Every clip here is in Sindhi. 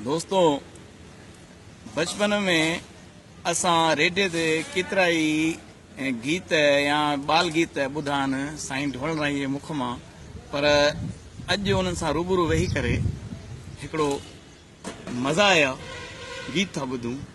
دوستو بچپن ۾ اسان ريڊيو تي ڪيترا ئي گيت يا بال گيت ٻڌا آهن سائين ڍول رائي جي مک مان پر اڄ انهن سان روبرو ويهي ڪري هڪڙو مزا آيا گيت ٿا ٻڌون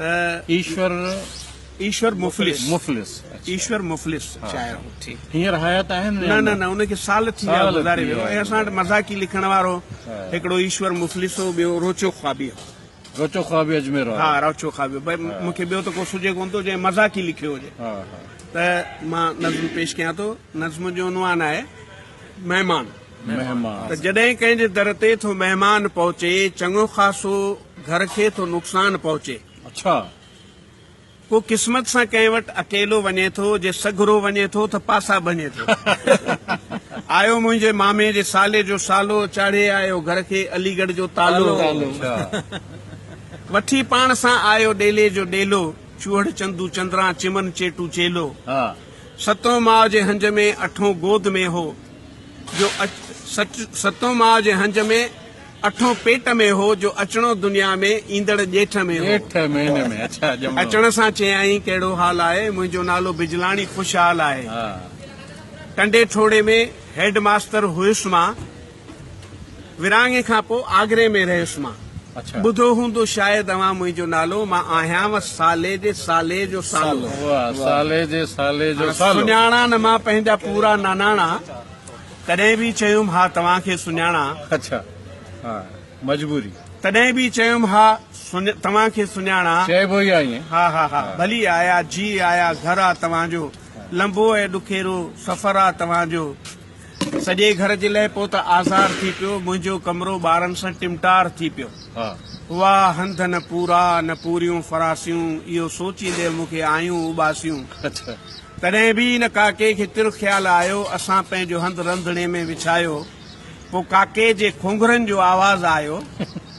ايشور ايشور مفلس مفلس ايشور مفلس شاعر هو ٺيڪ هينئر حيات آهن نه نه نه ان کي سال ٿي ويا گذاري ويو ۽ اسان وٽ مذاقي لکڻ وارو هڪڙو ايشور مفلس هو ٻيو روچو خوابي هو روچو خوابي اجمير ها روچو خوابي بھي مون کي ٻيو ته ڪو سجھي ڪون ٿو جنهن مذاقي لکيو هجي ها ها ته مان نظم پيش ڪيان ٿو نظم جو عنوان آهي مهمان مهمان ته جڏهن ڪنهن جي در تي ٿو مهمان پهچي چڱو خاصو گهر کي ٿو نقصان پهچي. اڇا! ڪو قسمت سان ڪنهن وٽ اڪيلو وڃي ٿو، جي سگهرو وڃي ٿو ته پاسا ڀڃي ٿو. آيو منهنجي مامي جي سالي جو سالو، چاڙهي آيو گهر کي علي ڳڙهه جو تالو. وٺي پاڻ سان آيو ڏيلي جو ڏيلو، چوهڙ چندو چندران چمن چيٽو چيلو. ستون ماء جي هنج ۾ اٺون گود ۾ هو، جو ستون ماء جي هنج ۾. اٺون پيٽ ۾ هو جو اچڻو دنيا ۾، ايندڙ ڄيٺ ۾ هو. اچڻ سان چيائين ڪهڙو حال آهي، منهنجو نالو بجلاڻي خوشحال آهي. ٽنڊي ٺوڙهي ۾ هيڊ ماستر هيس مان، ورهاڱي کان پوء آگري ۾ رهيس مان. ٻڌو هوندو شايد اوهان منهنجو نالو، مان آهيانء سالي جي سالي جو سالو. سڃاڻان مان پنهنجا پورا ناناڻا. تڏهن به چيم ها توهان کي سڃاڻان. اڇا ها مجبوري. تڏهن به چيم ها توهان کي سڃاڻان. چئبو ئي آهي ائين. ها ها ها ڀلي آيا جي آيا گهر آ توهان جو. لنبو ۽ ڏکيرو سفر آ توهان جو. سڄي گهر جي لئه پوء ته آزار ٿي پيو. منهنجو ڪمرو ٻارن سان ٽمٽار ٿي پيو. هئا هنڌ نه پورا نه پوريون فراسيون اهو سوچيندي مون کي آيون اوٻاسيون. تڏهن به ان ڪاڪي کي تر خيال آيو. اسان پنهنجو هنڌ رنڌڻي ۾ وڇايو. پوء ڪاڪي جي کونگهرن جو آواز آيو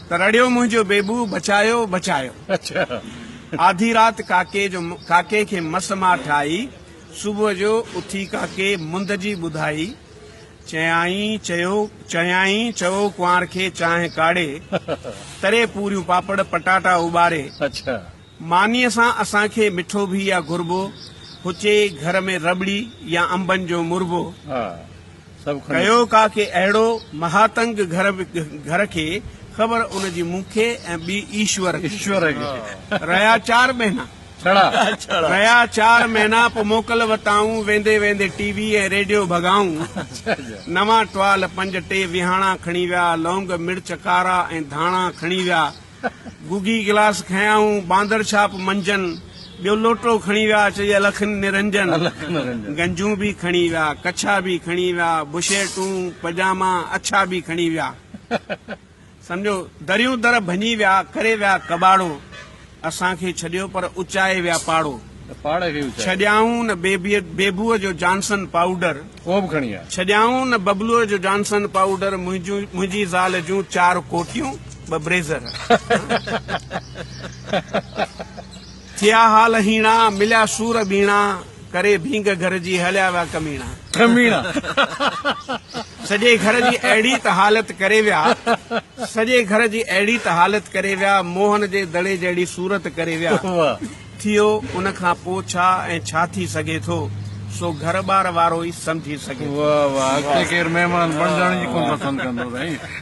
ته رڙيو منهنجو بيبو بچايو بچايو. آڌي رات ڪاڪي جو ڪاڪي کي مس ماٺ آئي. صبح جو اٿي ڪاڪي مند جي ٻڌائي. چيائين چيو چيائين چئو ڪنوار کي چانهه ڪاڙهي، تري پوريون پاپڙ پٽاٽا اٻاري. مانيء سان اسان کي مٺو به يا گربو، هچي گهر ۾ رٻڙي يا انبن جو مربو، ڪيو ڪا ڪي اهڙو مهاتنگ گهر گهر کي خبر ان جي مون کي ۽ ٻي ايشور کي. رهيا چار مهينا رهيا چار مهينا پو موڪل وتائون ويندي ويندي ٽي وي ۽ ريڊيو ڀڳائون نوان ٽوال پنج ٽي ويهاڻا کڻي ويا لونگ مرچ ڪارا ۽ ڌاڻا کڻي ويا گوگي گلاس کنيائون باندر ڇاپ منجهن، ٻيو لوٽو کڻي ويا چئي الخ نرنجن، گنجون به کڻي ويا، ڪڇا به کڻي ويا، بشيرٽون، پجاما، اڇا به کڻي ويا. سمجهو دريون در ڀڃي ويا، ڪري ويا ڪٻاڙو، اسان کي ڇڏيو پر اچائي ويا پاڙو. ڇڏيائون نه بيبوء جو جانسن پائوڊر ڇڏيائون نه ببلوء جو جانسن پائوڊر منهنجي زال جون چار ڪوٽيون ٻه بريزر ٿيا حال هيڻا مليا سور ٻيڻا ڪري ڀينگ گهر جي هليا ويا ڪميڻا سڄي گهر جي اهڙي ته حالت ڪري ويا سڄي گهر جي اهڙي ته حالت ڪري ويا موهن جي دڙي جهڙي صورت ڪري ويا ٿيو ان کان پو ڇا ۽ ڇا ٿي سگهي ٿو سو گهر ٻار وارو ئي سمجهي سگهي ٿو. واه واه اڳتي ڪير مهمان بڻجڻ ئي ڪونه پسند ڪندو سائين.